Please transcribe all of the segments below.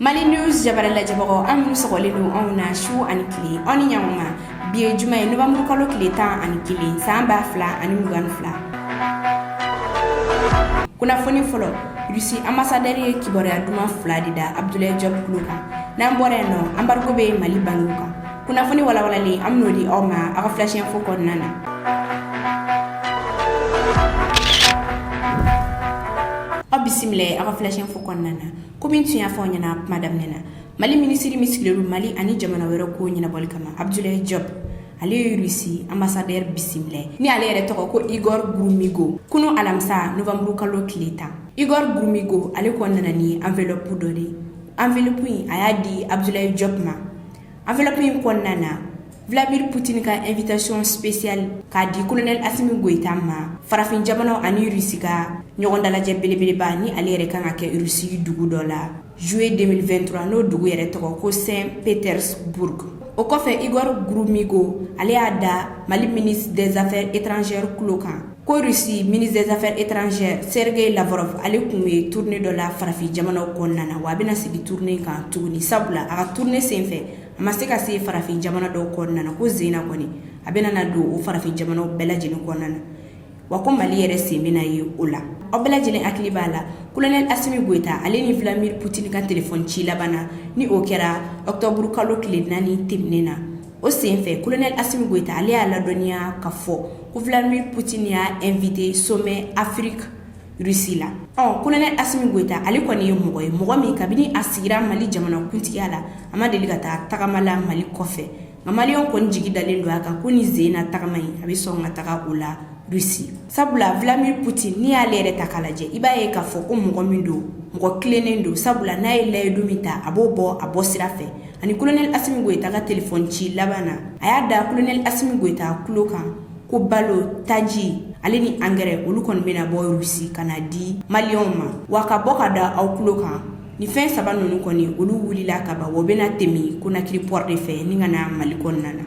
mali news jabara lajɛbagaw aw minnu sɔgɔlen don anw na su ani tile aw ni ɲakuma bi ye juma ye nowanburu kalo tile tan ani kelen san ba fila ani mugan ni fila kunnafoni fɔlɔ rusi ambasadɛri ye kibaruya duman fila de da abdulayi jɔb kulo kan n'an bɔra yen nɔ anbarigo bɛ mali bankiw kan kunnafoni walawalalen an bɛn'o di aw ma aw ka flash info kɔnɔna na aw bisimila aw ka flash info kɔnɔna na kɔmi tun y'a fɔ aw ɲɛna kuma daminɛ na mali minisiri min sigilen mali ani jamana wɛrɛ ko ɲɛnabɔli kama abdulayi jɔb ale ye rusi ambasadɛri bisimila ni ale yɛrɛ tɔgɔ ko igor gromyko kunun alamisa nowanburu kalo tile tan igor gromyko ale kun nana ni anvlɔpu dɔ de anvlɔpu in a y'a di abdulayi jɔb ma Anvlɔp in kɔnɔna na Vladimir Poutine ka invitation spéciale k'a di Colonel Assimi Goïta ma, farafin jamanaw ani Russie ka ɲɔgɔn dalajɛ belebeleba ni ale yɛrɛ ka kan ka kɛ Russie dugu dɔ la juillet 2023 n'o dugu yɛrɛ tɔgɔ ko Saint Petersbourg. O kɔfɛ Igor Gromyko ale y'a da Mali ministre des affaires étrangères tulo kan. Ko rusi ministre des affaires étrangères sergueï lavrov ale tun ye tournée dɔ la farafin jamanaw kɔnɔna na wa a bɛna segin tournée kan tuguni sabula a ka tournée senfɛ a ma se ka se farafin jamana dɔw kɔnɔna na ko sen na kɔni a bɛna na don o farafin jamanaw bɛɛ lajɛlen kɔnɔna na wa ko mali yɛrɛ sen bɛna ye o la aw bɛɛ lajɛlen hakili b'a la kolonɛli asimi goyita ale ni vladimir putin ka telefɔni ci laban na ni o kɛra ɔkutɔburu kalo tile naani tɛmɛnen na o senfɛ kolonɛli asimi goyita ale y'a ladɔnniya ka fɔ ko vladimir putin y'a invité sommet afrique russie la ɔ kolonɛli asimi goyita ale kɔni ye mɔgɔ ye mɔgɔ min kabini a sigira mali jamana kuntigiya la a ma deli ka taa tagama la mali kɔfɛ nka maliyɛnw kɔni jigi dalen don a kan ko nin sen na tagama in a bɛ sɔn ka taga o la rusi sabula vladimir putin n'i y'ale yɛrɛ ta k'a lajɛ i b'a ye k'a fɔ ko mɔgɔ min don mɔgɔ tilennen don sabula n'a ye layidu min ta a b'o bɔ a bɔ sira fɛ a ni kolonɛli asimi goyita ka telefɔni ci laban na a y'a da kolonɛli asimi goyita tulo kan ko balo taji ale ni angɛrɛ olu kɔni bɛna bɔ rusi ka na di maliyɛnw ma wa ka bɔ ka da aw tulo kan ni fɛn saba ninnu kɔni olu wulila ka ban wa o bɛna tɛmɛ konakiri pɔri de fɛ ni ka na mali kɔnɔna na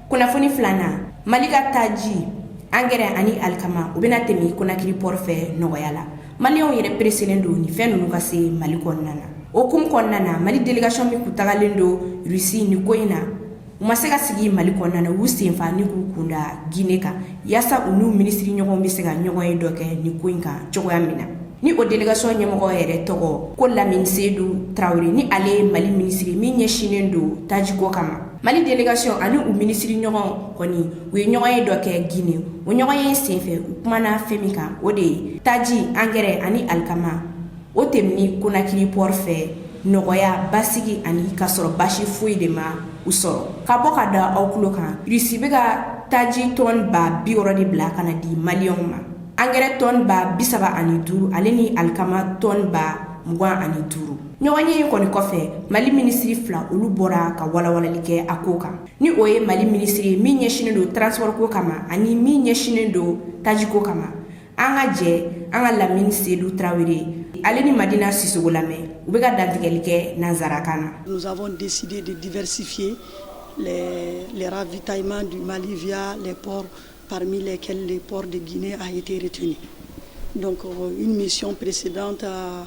kunnafoni filanan mali ka taji angɛrɛ ani alikama u bɛna tɛmɛ konakiri pɔri fɛ nɔgɔya la maliyɛnw yɛrɛ pereselen don nin fɛn ninnu ka se mali kɔnɔna na o hukumu kɔnɔna na mali delegasiyɔn min kun tagalen don rusi ni ko in na u ma se ka segin mali kɔnɔna na u senfa ni k'u kun da gine kan yaasa u n'u minisiri ɲɔgɔnw bɛ se ka ɲɔgɔnye dɔ kɛ ni ko in kan cogoya min na ni o delegasiyɔn ɲɛmɔgɔ yɛrɛ tɔgɔ ko lamini sedu tarawele ni ale ye mali minisiri min ɲɛsinnen don tajiko kama Mali delegasiyɔn ani u minisiri ɲɔgɔn kɔni u ye ɲɔgɔn ye dɔ kɛ Gine o ɲɔgɔn ye senfɛ u kumana fɛn min kan o de ye taji angɛrɛ ani alikama o tɛmɛni konakiri pɔɔri fɛ nɔgɔya basigi ani k'a sɔrɔ basi foyi de ma u sɔrɔ ka bɔ k'a da aw tulo kan risi bɛ ka taji tɔn ba bi wɔɔrɔ de bila ka na di maliyɛnw ma angɛrɛ tɔn ba bi saba ani duuru ale ni alikama tɔn ba mugan ani duuru ɲɔgɔn ye in kɔni kɔfɛ mali minisiri fila olu bɔra ka walawalali kɛ a ko kan ni o ye mali minisiri min ɲɛsinnen don transipɔriko kama ani min ɲɛsinnen don tajiko kama an ka jɛ an ka lamini sedu tarawele ale ni madina sisoko lamɛn u bɛ ka dantigɛli kɛ nansarakan na nous avons décidé de diversifier les ravitaillements du Mali via les ports parmi lesquels le port de Guinée a été retenu donc une mission peresida ta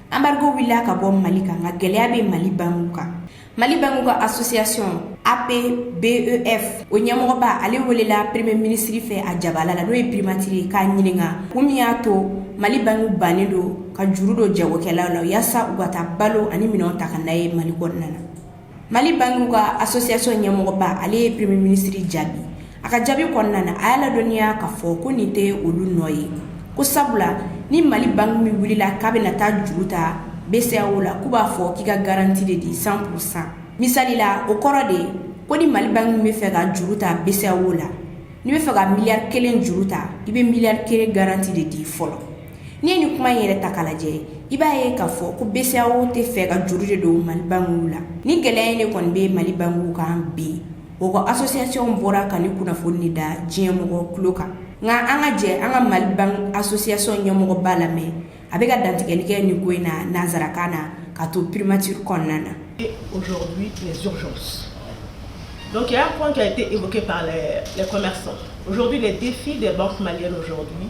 anbarigo wulila ka bɔ mali kan nka gɛlɛya bɛ mali bankiw kan mali bankiw ka asosiyasɔn apbef o ɲɛmɔgɔba ale welela peremiye minisiri fɛ a jabala la n'o ye pirimatiri ye k'a ɲininka kun min y'a to mali bankiw bannen don ka juru don jagokɛlaw la yaasa u ka taa balo ani minɛnw ta ka n'a ye mali kɔnɔna na mali bangiw ka association ɲɛmɔgɔba ale ye premier ministre jaabi a ka jaabi kɔnɔna na a y'a ladɔnniya k'a fɔ ko nin tɛ olu nɔ ye ko sabula ni mali bangi min wulila k'a bɛna taa juru ta BCEAO la k'u b'a fɔ k'i ka garanti de di 100 pourcent misali la o kɔrɔ de ko ni mali bangi min bɛ fɛ ka juru ta BCEAO la n'i bɛ fɛ ka miliyari kelen juru ta i bɛ miliyari kelen garanti de di fɔlɔ n'i ye nin kuma in yɛrɛ ta k'a lajɛ i b'a ye k'a fɔ ko BCEAO tɛ fɛ ka juru de don mali bankiw la nin gɛlɛya in de kɔni bɛ mali bankiw kan bi o ka asosiyasiyɔn bɔra ka nin kunnafoni in da diɲɛ mɔgɔ tulo kan nka an ka jɛ an ka mali bankiw asosiyasɔn ɲɛmɔgɔba lamɛn a bɛ ka dantigɛli kɛ nin ko in na nansarakan na ka to primature kɔnɔna na aujourd'hui les urgences donc il y a un point qui a été évoqué par les, les commerçants aujourd'hui les défis des banques maliennes aujourd'hui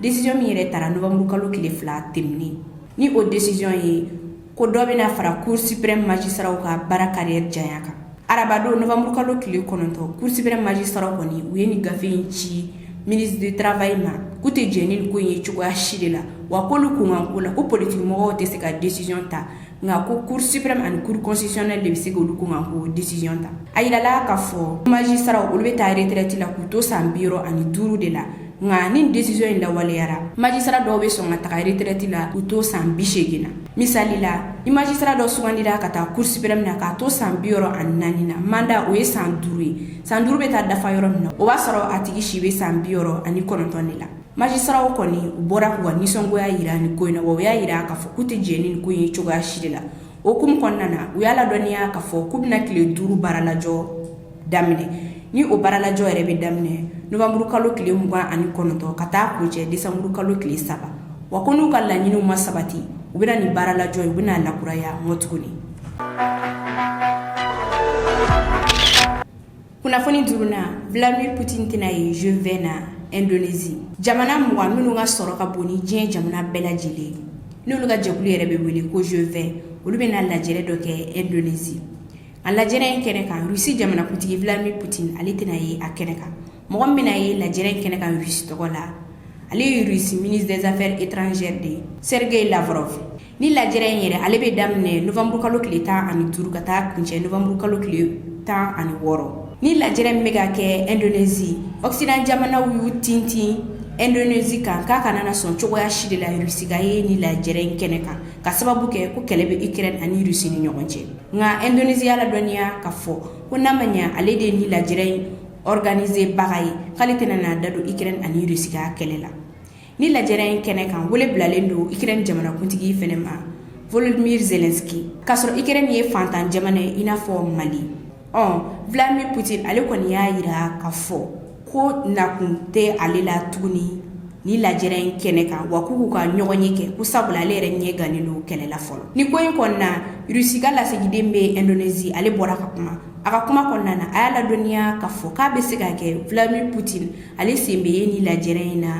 Décision min yɛrɛ tara novembre kalo tile fila tɛmɛnen ni o décision ye ko dɔ bɛna fara cour suprême magistrats ka baara carrière janya kan arabadon novembre kalo tile kɔnɔntɔn cour suprême magistrats kɔni u ye nin gafe in ci ministre du travail ma k'u tɛ jɛn ni nin ko in ye cogoya si de la wa k'olu kunkanko la ko politiki mɔgɔw tɛ se ka décision ta nka ko cour suprême ani cour constitutionnelle de bɛ se k'olu kunkanko décision ta a yirala k'a fɔ magistrats olu bɛ taa retraite la k'u to san bi wɔɔrɔ ani duuru de la nka ni desizɔn in lawaleyara majisara dɔw bɛ sɔn ka taga retirɛti la k'u to san bi seegin na misali la ni majisara dɔ sugandira ka taa kuru sipirɛmu na k'a to san bi wɔɔrɔ ani naani na manda o ye san duuru ye san duuru bɛ taa dafa yɔrɔ min na o b'a sɔrɔ a tigi si bɛ san bi wɔɔrɔ ani kɔnɔntɔn de la majisaraw kɔni u bɔra k'u ka nisɔngoya yira ni ko in na wa u y'a yira k'a fɔ k'u tɛ jɛn ni ko in ye cogoya si de la o hukumu kɔnɔna na u y'a ladɔnniya k'a fɔ k'u bɛna tile duuru baara lajɔ daminɛ ni o baaralajɔ yɛrɛ bɛ daminɛ novembre kalo tile mugan ani kɔnɔntɔn ka taa kuncɛ décembre kalo tile saba wa ko n'u ka laɲiniw ma sabati u bɛna nin baaralajɔ u bɛna na lakuraya mɔt tuguni kunnafoni duurunan vladimir putin tɛna ye G20 na indonesie jamana mugan minnu ka sɔrɔ ka bon ni diɲɛ jamana bɛɛ lajɛlen ye n'olu ka jɛkulu yɛrɛ bɛ wele ko G20 olu bɛna lajɛrɛ dɔ kɛ indonesie a lajɛrɛ in kɛnɛ kan rusi jamanakuntigi vladimir putin ale tɛna ye a kɛnɛ kan mɔgɔ min bɛna ye lajɛrɛ in kɛnɛ kan rusi tɔgɔ la ale ye rusi ministre des affaires étrangères de ye sergei lavrov ni lajɛrɛ in yɛrɛ ale bɛ daminɛ novembre kalo tile tan ani duuru ka taa kuncɛ novembre kalo tile tan ani wɔɔrɔ ni lajɛrɛ min bɛ ka kɛ indonesie occident jamanaw y'u tintin indonesie kan k'a kana na sɔn cogoya si de la rusi ka ye ni lajɛrɛ in kɛnɛ kan ka sababu kɛ ko kɛlɛ bɛ ukraine ani rusi ni ɲɔgɔn cɛ nka Indonésie y'a ladɔnniya k'a fɔ ko n'a ma ɲɛ ale de ye ni lajɛrɛ in organiser baga ye k'ale tɛna n'a da don Ukraine ani Russie ka kɛlɛ la ni lajɛrɛ in kɛnɛ kan wele bilalen don Ukraine jamanakuntigi fɛnɛ ma Volodymyr Zelenskyy k'a sɔrɔ Ukraine ye faantan jamana ye i n'a fɔ Mali ɔ Vladimir Poutine ale kɔni y'a yira k'a fɔ ko nakun tɛ ale la tuguni ni lajɛrɛ in kɛnɛ kan wa k'u k'u ka ɲɔgɔn ye kɛ ko sabula ale yɛrɛ ɲɛ gannen don kɛlɛ la fɔlɔ ni ko in kɔnɔna rusi ka lasigiden bɛ indonesie ale bɔra ka kuma a ka kuma kɔnɔna na a y'a ladɔnniya k'a fɔ k'a bɛ se ka kɛ vladimir putin ale sen bɛ ye ni lajɛrɛ in na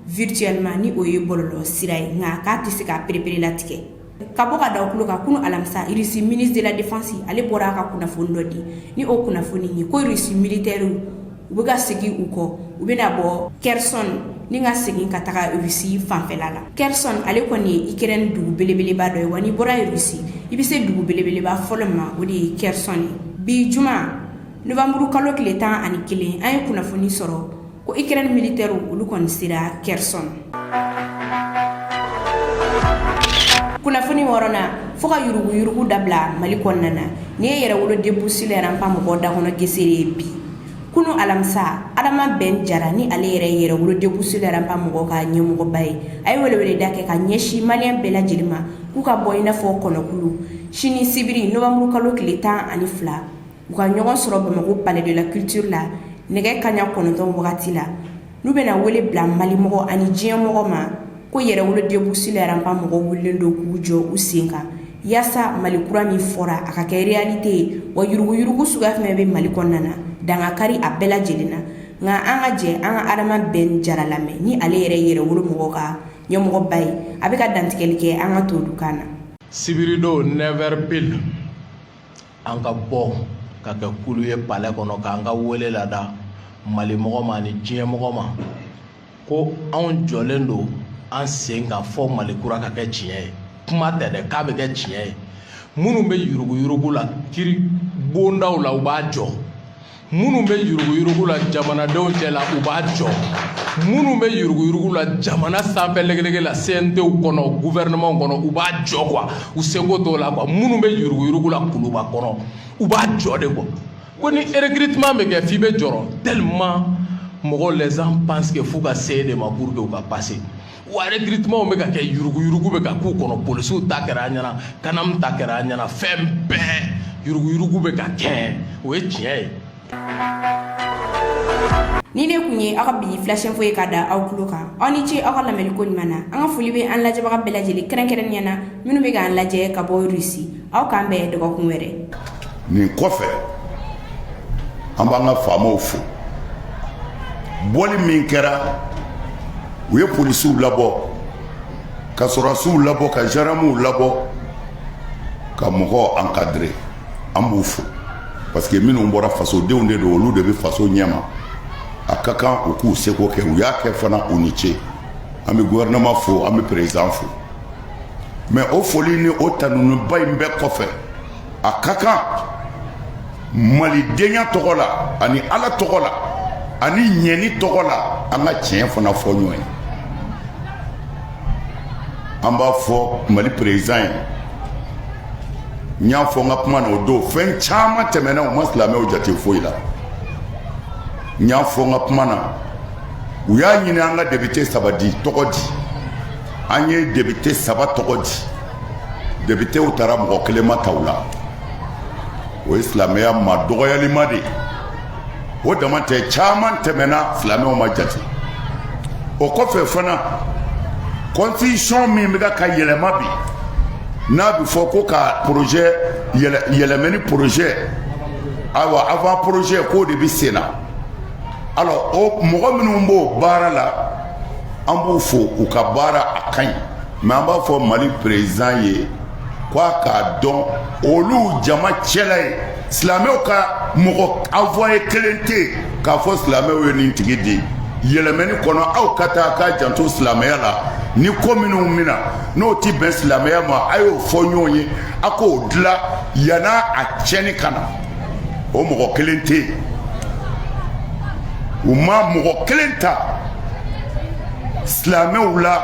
virtuellement ni o ye bɔlɔlɔ sira ye nka k'a tɛ se k'a pereperelatigɛ Ka bɔ ka da o kulo kan kunun alamisa rusi ministre de la défense ale bɔra ka kunnafoni dɔ di ni o kunnafoni ye ko rusi militɛriw u bɛ ka segin u kɔ u bɛna bɔ kherson ni ka segin ka taga rusi fanfɛla la kherson ale kɔni ye ukraine dugu belebeleba dɔ ye wa n'i bɔra rusi i bɛ se dugu belebeleba fɔlɔ ma o de ye kherson ye bi juma novembre kalo tile tan ani kelen an ye kunnafoni sɔrɔ ko ukraine militɛriw olu kɔni sera kherson kunnafoni wɔɔrɔnan fo ka yuruguyurugu dabila mali kɔnɔna na ni ye yɛrɛwolo debout sur les remparts mɔgɔ da kɔnɔ gesere ye bi kunun alamisa adama bɛn jara ni ale yɛrɛ yɛrɛwolo debout sur les remparts mɔgɔ ka ɲɛmɔgɔba ye a ye weleweleda kɛ ka ɲɛsin maliyɛn bɛɛ lajɛlen ma k'u ka bɔ i n'a fɔ kɔnɔkulu sini sibiri novembre kalo tile tan ani fila u ka ɲɔgɔn sɔrɔ bamakɔ palais de la culture la nɛgɛ kaɲa kɔnɔntɔn wagati la n'u bɛna wele bila malimɔgɔ ani diɲɛ mɔgɔ ma ko yɛrɛwolo debout sur les remparts mɔgɔw wulilen don k'u jɔ u sen kan yaasa mali kura min fɔra a ka kɛ réalité ye wa yuruguyurugu suguya fɛn bɛ mali kɔnɔna na dan ka kari a bɛɛ lajɛlen na nka an ka jɛ an ka adama bɛn jara lamɛn ni ale yɛrɛ yɛrɛwolo mɔgɔ ka ɲɛmɔgɔba ye a bɛ ka dantigɛli kɛ an ka tolukan na sibiridon 9h pile an ka bɔ ka kɛ kulu ye palais kɔnɔ k'an ka wele lada mali mɔgɔ ma ni diɲɛ mɔgɔ ma ko anw jɔlen don an sen kan fo mali kura ka kɛ tiɲɛ ye kuma tɛ dɛ k'a bɛ kɛ tiɲɛ ye minnu bɛ yuruguyurugu la kiri bondaw la u b'a jɔ minnu bɛ yuruguyurugu la jamanadenw cɛ la u b'a jɔ minnu bɛ yuruguyurugu la jamana sanfɛ legelege la CNTw kɔnɔ gouvernement kɔnɔ u b'a jɔ quoi u seko t'o la quoi minnu bɛ yuruguyurugu la kuluba kɔnɔ u b'a jɔ de quoi ko ni recrutement bɛ kɛ f'i bɛ jɔrɔ tellement mɔgɔw les gens pensent que f'u ka se de ma pour que u ka passer wa recrutement bɛ ka kɛ yuruguyurugu bɛ ka k'u kɔnɔ polisiw ta kɛra an ɲɛna CANAM ta kɛra an ɲɛna fɛn bɛɛ yuruguyurugu bɛ ka kɛ o ye tiɲɛ ye nin de kun ye aw ka bi flash info ye ka da aw tulo kan aw ni ce aw ka lamɛnni ko ɲuman na an ka foli bɛ an lajɛbaga bɛɛ lajɛlen kɛrɛnkɛrɛnnenya na minnu bɛ k'an lajɛ ka bɔ russie aw k'an bɛn dɔgɔkun wɛrɛ nin kɔfɛ an b'an ka faamaw fo bɔli min kɛra u ye polisiw labɔ ka sɔrɔdasiw labɔ ka zandaramuw labɔ ka mɔgɔw encadrer an b'u fo parce que minnu bɔra fasodenw de don olu de bɛ faso ɲɛma a ka kan u k'u seko kɛ u y'a kɛ fana u ni ce an bɛ gouvernement fo an bɛ président fo mais o foli ni o tanuniba in bɛɛ kɔfɛ a ka kan malidenya tɔgɔ la ani ala tɔgɔ la ani ɲani tɔgɔ la an ka tiɲɛ fana fɔ ɲɔgɔn ye an b'a fɔ mali président ye n y'a fɔ n ka kuma na o don fɛn caman tɛmɛna u ma silamɛw jate foyi la n y'a fɔ n ka kuma na u y'a ɲini an ka député saba di tɔgɔ di an ye député saba tɔgɔ di députéw taara mɔgɔ kelen ma ta u la o ye silamɛya madɔgɔyaliba de ye o dama tɛ caman tɛmɛna silamɛw ma jate o kɔfɛ fana constitution min bɛ ka yɛlɛma bi n'a bɛ fɔ ko ka projet yɛlɛmani projet ayiwa avant projet k'o de bɛ sen na alors o mɔgɔ minnu b'o baara la an b'u fo u ka baara a ka ɲi mais an b'a fɔ mali président ye k' a k'a dɔn olu jama cɛla ye silamɛw ka mɔgɔ envoyé kelen tɛ yen k'a fɔ silamɛw ye nin tigi di yɛlɛmani kɔnɔ aw ka taa k'a janto silamɛya la ni ko minnu min na n'o tɛ bɛn silamɛya ma a y'o fɔ ɲɔgɔn ye a k'o dilan yanni a tiɲɛni ka na o mɔgɔ kelen tɛ yen u ma mɔgɔ kelen ta silamɛw la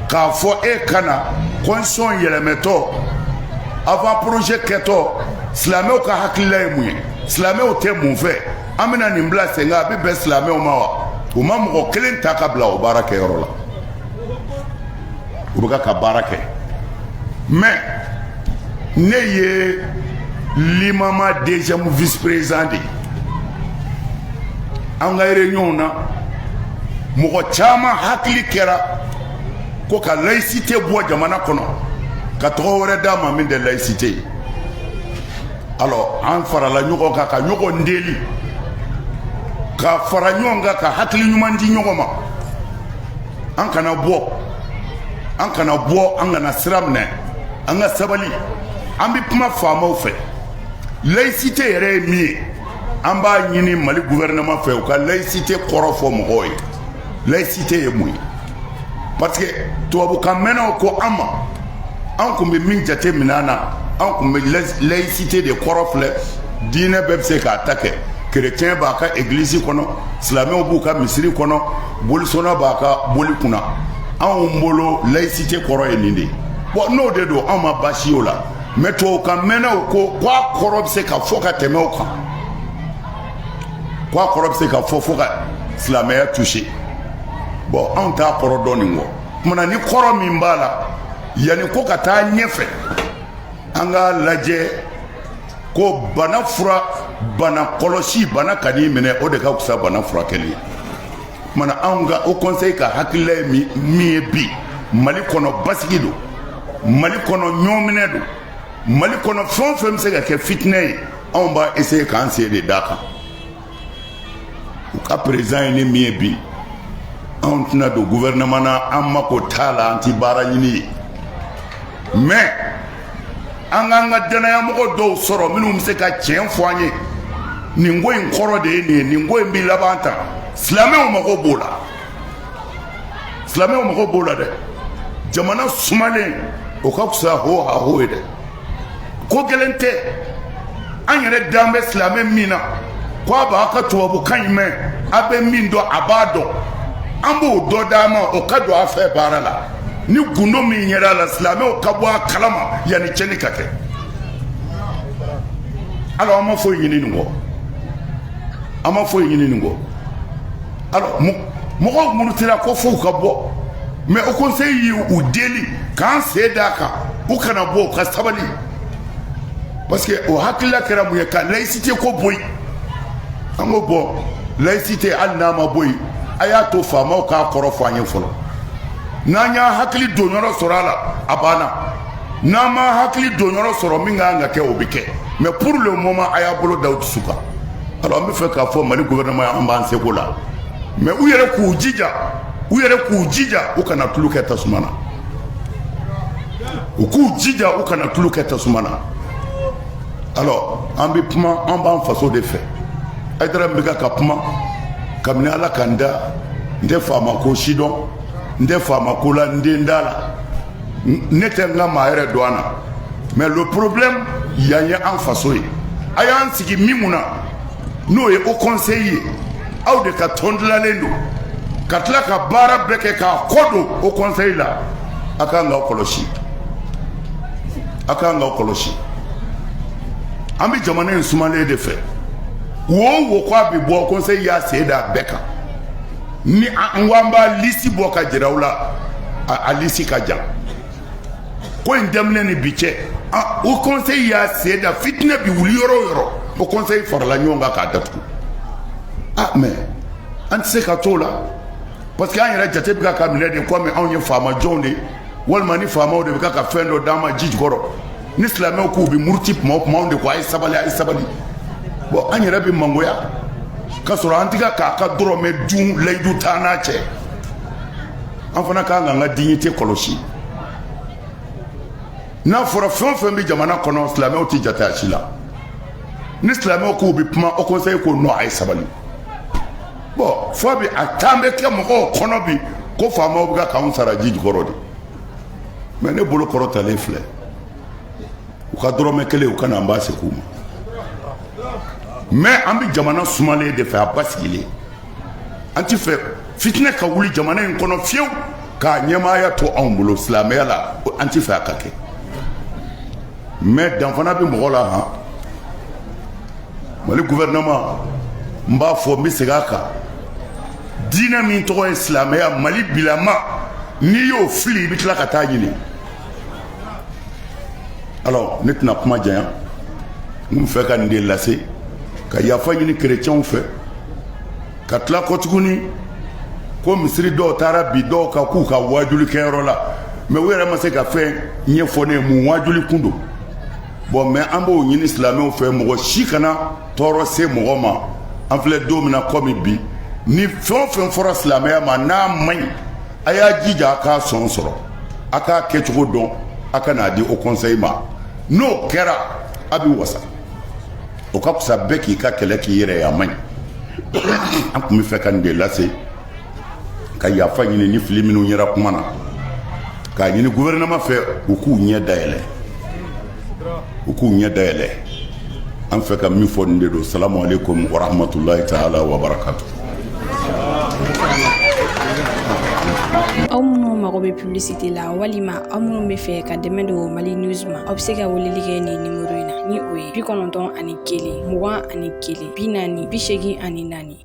k'a fɔ e ka na constitution yɛlɛmɛtɔ avant projet kɛtɔ silamɛw ka hakilila ye mun ye silamɛw tɛ mun fɛ an bɛna nin bila sen kan a bɛ bɛn silamɛw ma wa u ma mɔgɔ kelen ta ka bila o baara kɛyɔrɔ la u bɛ ka baara kɛ mais ne ye limama deuxième vice président de ye an ka réunion na mɔgɔ caman hakili kɛra ko ka laïcité bɔ jamana kɔnɔ ka tɔgɔ wɛrɛ d'a ma min tɛ laïcité ye alors an farala ɲɔgɔn kan ka ɲɔgɔn deli ka fara ɲɔgɔn kan ka hakili ɲuman di ɲɔgɔn ma an kana bɔ an kana bɔ an kana sira minɛ an ka sabali an bɛ kuma faamaw fɛ laïcité yɛrɛ ye min ye an b'a ɲini mali gouvernement fɛ u ka laïcité kɔrɔ fɔ mɔgɔw ye laïcité ye mun ye parce que tubabukan mɛnnaw ko an ma an kun bɛ min jate minɛ na an kun bɛ laïcité de kɔrɔ filɛ diinɛ bɛɛ bɛ se k'a ta kɛ chrétien b'a ka église kɔnɔ silamɛw b'u ka misiri kɔnɔ bolisɔnna b'a ka boli kunna anw bolo laïcité kɔrɔ ye nin de bon n'o de don anw ma baasi y'o la mais tubabukan mɛnnaw ko ko a kɔrɔ bɛ se ka fɔ ka tɛmɛ o kan ko a kɔrɔ bɛ se ka fɔ fo ka silamɛya toucher bon anw t'a kɔrɔ dɔn nin kɔ kuma na ni kɔrɔ min b'a la yanni ko ka taa ɲɛfɛ an k'a lajɛ ko bana fura bana kɔlɔsi bana kan'i minɛ o de ka fisa bana furakɛli ye kuma na anw ka haut conseil ka hakilila ye min ye bi mali kɔnɔ basigi don mali kɔnɔ ɲɔminɛ don mali kɔnɔ fɛn o fɛn bɛ se ka kɛ fitinɛ ye anw b'a essayer k'an sen de d'a kan u ka président ye ne min ye bi anw tɛna don gouvernement na an mako t'a la an ti baara ɲini ye mais an kan ka dannayamɔgɔ dɔw sɔrɔ minnu bɛ se ka tiɲɛ fɔ an ye nin ko in kɔrɔ de ye nin ye nin ko in bɛ laban tan silamɛw mago b'o la silamɛw mago b'o la dɛ jamana sumalen o ka fisa ho ha ho ye dɛ ko gɛlɛn tɛ an yɛrɛ dan bɛ silamɛ min na ko a b'a ka tubabukan in mɛn a bɛ min dɔn a b'a dɔn an b'o dɔ d'a ma o ka don a fɛ baara la ni gundo min yɛrɛ a la silamɛw ka bɔ a kalama yanni cɛnni ka kɛ alors an ma foyi ɲini nin kɔ an ma foyi ɲini nin kɔ alors mɔgɔw murutira ko f'u ka bɔ mais Haut Conseil ye u deli k'an sen d'a kan u kana bɔ u ka sabali parce que o hakilila kɛra mun ye ka laïcité ko bɔ yen an ko bon laïcité hali n'a ma bɔ yen a y'a to faamaw k'a kɔrɔ fɔ an ye fɔlɔ n'an y'a hakili don yɔrɔ sɔrɔ a la a banna n'an ma hakili don yɔrɔ sɔrɔ min kan ka kɛ o bɛ kɛ mais pour le moment a y'a bolo da aw dusu kan an bɛ fɛ k'a fɔ mali gouvernement ye an b'an seko la mais u yɛrɛ k'u jija u yɛrɛ k'u jija u kana tulu kɛ tasuma na u k'u jija u kana tulu kɛ tasuma na alors an bɛ kuma an b'an faso de fɛ Haidara bɛ ka kuma kabini ala ka n da n tɛ faama ko si dɔn n tɛ faama ko la n den da la ne tɛ n ka maa yɛrɛ don an na mais le problème yan ye an faso ye a y'an sigi min mun na n'o ye Haut Conseil ye aw de ka tɔn dilannen don ka tila ka baara bɛɛ kɛ k'a kɔ don Haut Conseil la a ka kan k'aw kɔlɔsi a ka kan k'aw kɔlɔsi an bɛ jamana in sumalen de fɛ ko o ko a bɛ bɔ conseil y'a sen da a bɛɛ kan ni an ko an b'a lisi bɔ k'a jira aw la a lisi ka jan ko in daminɛ ni bi cɛ Haut Conseil y'a sen da fitinɛ bi wuli yɔrɔ o yɔrɔ Haut Conseil farala ɲɔgɔn kan k'a datugu a mais an tɛ se ka t'o la parce que an yɛrɛ jate bɛ ka minɛ de kɔmi anw ye faama jɔnw de ye walima ni faamaw de bɛ ka fɛn dɔ d'an ma ji jukɔrɔ ni silamɛw k'u bɛ muruti kuma o kuma anw de ko a ye sabali a ye sabali bon an yɛrɛ bɛ mangoya k'a sɔrɔ an tɛ ka k'a ka dɔrɔmɛ dun layidu t'an n'a cɛ an fana kan k'an ka dignité kɔlɔsi n'a fɔra fɛn o fɛn bɛ jamana kɔnɔ silamɛw tɛ jate a si la ni silamɛw k'u bɛ kuma Haut Conseil ko non a ye sabali bon fo bi a tan bɛ kɛ mɔgɔw kɔnɔ bi ko faamaw bɛ ka k'anw sara ji jukɔrɔ de mais ne bolo kɔrɔtalen filɛ u ka dɔrɔmɛ kelen u ka na an b'a segin u ma mais an bɛ jamana sumalen de fɛ a basigilen an tɛ fɛ fitinɛ ka wuli jamana in kɔnɔ fiyewu ka ɲɛmaaya to anw bolo silamɛya la an tɛ fɛ a ka kɛ mais dan fana bɛ mɔgɔ la han mali gouvernement n b'a fɔ n bɛ segin a kan diinɛ min tɔgɔ ye silamɛya mali bilama n'i y'o fili i bɛ tila ka taa ɲini alors ne tɛna kuma janya n tun fɛ ka nin de lase ka yafa ɲini kerecɛnw fɛ ka tila kɔ tuguni ko misiri dɔw taara bin dɔw kan k'u ka waajuli kɛyɔrɔ la mais u yɛrɛ ma se ka fɛn ɲɛfɔ ne ye mun waajuli kun don bon mais an b'o ɲini silamɛw fɛ mɔgɔ si kana tɔɔrɔ se mɔgɔ ma an filɛ don min na komi bi ni fɛn o fɛn fɔra silamɛya ma n'a man ɲi a y'a jija a k'a sɔn sɔrɔ a k'a kɛcogo dɔn a ka n'a di haut conseil ma n'o kɛra a bɛ wasa o ka fisa bɛɛ k'i ka kɛlɛ k'i yɛrɛ ye a man ɲi an tun bɛ fɛ ka nin de lase ka yafa ɲini ni fili minnu yera kuma na k'a ɲini gouvernement fɛ u k'u ɲɛ dayɛlɛ u k'u ɲɛ dayɛlɛ an fɛ ka min fɔ nin de don salamu aleykum warahmatulahi taala wabarakatu aw minnu mago bɛ publicité la walima aw minnu bɛ fɛ ka dɛmɛ don mali news ma aw bɛ se ka weleli kɛ nin nimero in na ni o ye bi kɔnɔntɔn ani kelen mugan ani kelen bi naani bi seegin ani naani